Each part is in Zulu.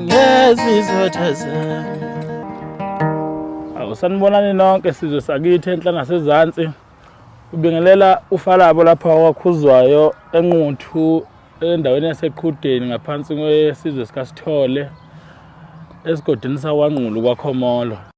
ngezizothaza Awu sanibonani nonke sizwe sakithi enhla nasezantsi ubingelela ufalabo lapha wakhuzwayo enquthu endaweni yaseqhudeni ngaphansi kwesizwe sikasithole esigodini sawanqulu kwakhomolo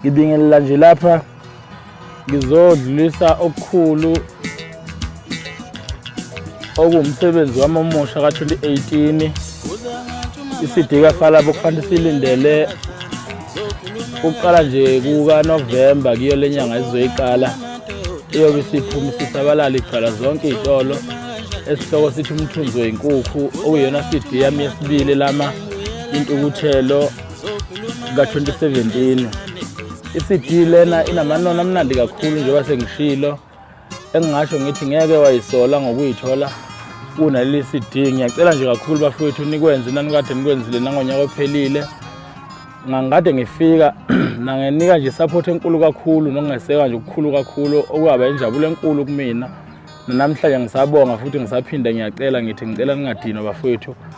ngibingelela nje lapha ngizodlulisa okukhulu okuwumsebenzi wami omusha ka-2018 isidika falabo kufanele silindele ukuqala nje kukanovemba kuyo le nyanga esizoyiqala iyobe isiphuma isisabalala igcwala zonke iy'tolo esihloko sithi umthunzi wenkukhu okuyona cd yami yesibili lama intukuthelo ka-2017 i-cd lena inamanono amnandi kakhulu njengoba sengishilo engingasho ngithi ngeke wayisola ngokuyithola kunaleli cd ngiyacela nje kakhulu bafowethu nikwenze nanikade nikwenzile nangonyaka ophelile ngangikade ngifika nangenika nje support enkulu kakhulu nokungeseka nje okukhulu kakhulu okuyaba injabulo enkulu kumina nanamhlanje ngisabonga futhi ngisaphinde ngiyacela ngithi ngicela ningadinwa bafowethu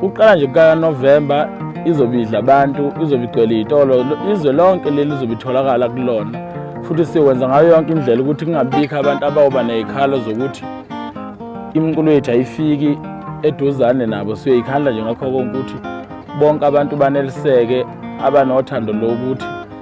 Kuqala nje kukaNovemba izobe idla abantu, izobe igcwele iy'tolo, izwe lonke leli lizobe itholakala kulona. Futhi siwenza ngayo yonke indlela ukuthi kungabikho abantu abawuba ney'khalo zokuthi imiculo yethu ayifiki eduzane nabo. Siyoyikhandla nje ngakho konke ukuthi bonke abantu baneliseke abanothando lokuthi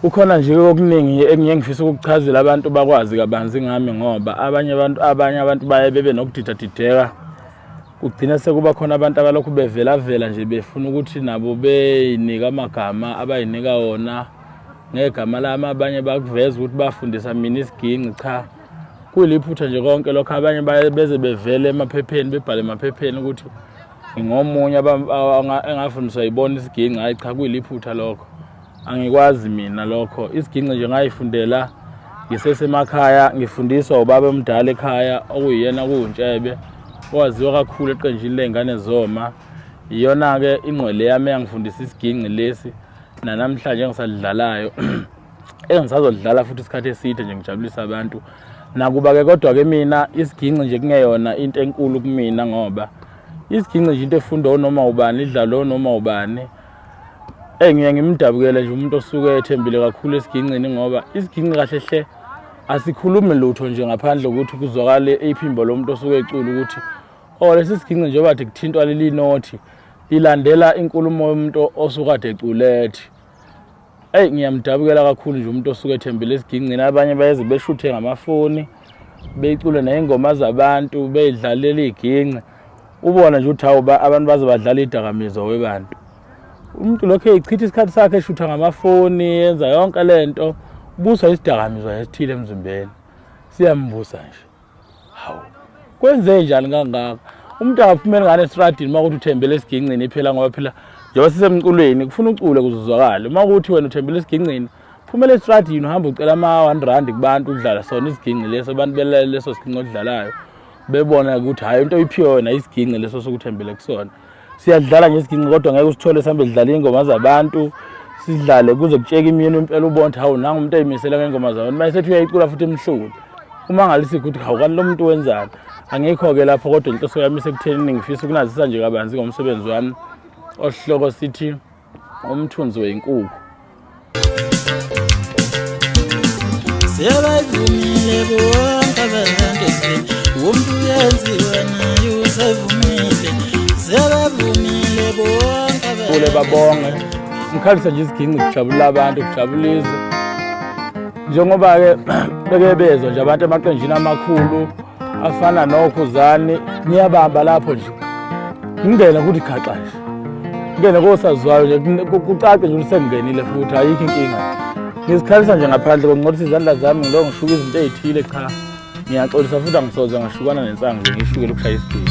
Kukhona nje okuningi engiye ngifisa ukukuchazela abantu bakwazi kabanzi ngami ngoba abanye abantu abanye abantu baye bebe nokudidadideka kugcina sekuba khona abantu abalokhu bevelavela nje befuna ukuthi nabo beyinika amagama abayinika wona ngegama lami abanye bakuveza ukuthi bafundisa mina isiginci cha kuliphutha nje konke lokho abanye beze bevele emaphepheni bebhale emaphepheni ukuthi ngomunye engafundiswa yibona isiginci hayi cha kuyiliphutha lokho angikwazi mina lokho isiginci nje ngayifundela ngisesemakhaya ngifundiswa ubaba omdala ekhaya okuyiyena kuwuntshebe owaziwa kakhulu eqenjini ley'ngane zoma iyona-ke ingqwele yami eyangifundisa isiginci lesi nanamhlanje engisalidlalayo engisazolidlala futhi isikhathi eside nje ngijabulisa abantu nakuba-ke kodwa-ke mina isiginci nje kungeyona into enkulu kumina ngoba isiginci nje into efunda onoma ubani idlala onoma ubani eyi ngiye ngimdabukele nje umuntu osuke ethembile kakhulu esiginqini ngoba isiginqi kahle hle asikhulumi lutho nje ngaphandle kokuthi kuzwakale iphimbo lo muntu osuke ecula ukuthi o oh, lesi siginqi njengoba de kuthintwa leli nothi lilandela inkulumo yomuntu osukade eculethi Eyi ngiyamdabukela kakhulu nje umuntu osuke ethembile esigingcini abanye bayeze beshuthe ngamafoni beyicule ney'ngoma zabantu beyidlalela iy'ginci ubona nje ukuthi hawu abantu baze badlala idakamizwa webantu umuntu lokhu eyichitha isikhathi sakhe eshutha ngamafoni yenza yonke le nto buswa isidakamizwa esithile emzimbeni siyambusa nje hawu kwenze njani kangaka umuntu akaphumeli ngane estradini uma ukuthi uthembele esigingcini iphela ngoba phela njengoba sisemculweni kufuna ucule kuzuzwakale uma ukuthi wena uthembele esigingcini phumela estradini uhamba ucela ama-one rand kubantu udlala sona isigingci leso abantu belale leso sigingci odlalayo bebona ukuthi hhayi into oyiphiwe wena isigingci leso sokuthembele kusona siyadlala ngesiginci kodwa ngeke usithole sihambe sidlala iy'ngoma zabantu sidlale kuze kutsheke imyeni impela ubona ukuthi hawu nangu umuntu ayimisela ngey'ngoma zabantu uma esethi uyayicula futhi emhlule uma ngalisiphi ukuthi hawu kanti lo muntu wenzani angikho-ke lapho kodwa inhloso yami isekutheni ngifisa ukunazisa nje kabanzi ngomsebenzi wami osihloko sithi umthunzi wenkukhu siyabavumile bonke abahambisini umuntu uyenziwa naye usevumile siyabavumile bonke kule babonge mkhalisa nje iziginci kujabula abantu kujabula izwe njengoba-ke beke bezwa nje abantu emaqenjini amakhulu afana nokho zani niyabamba lapho nje ngingena kuthi khaxa nje ngene kosaziwayo nje kucace nje usengenile futhi ayikho inkinga ngizikhalisa nje ngaphandle konqothisa izandla zami ngilo ngishuka izinto ezithile cha ngiyaxolisa futhi angisoze ngashukana nensangu nje ngishukele ukushaya isidingo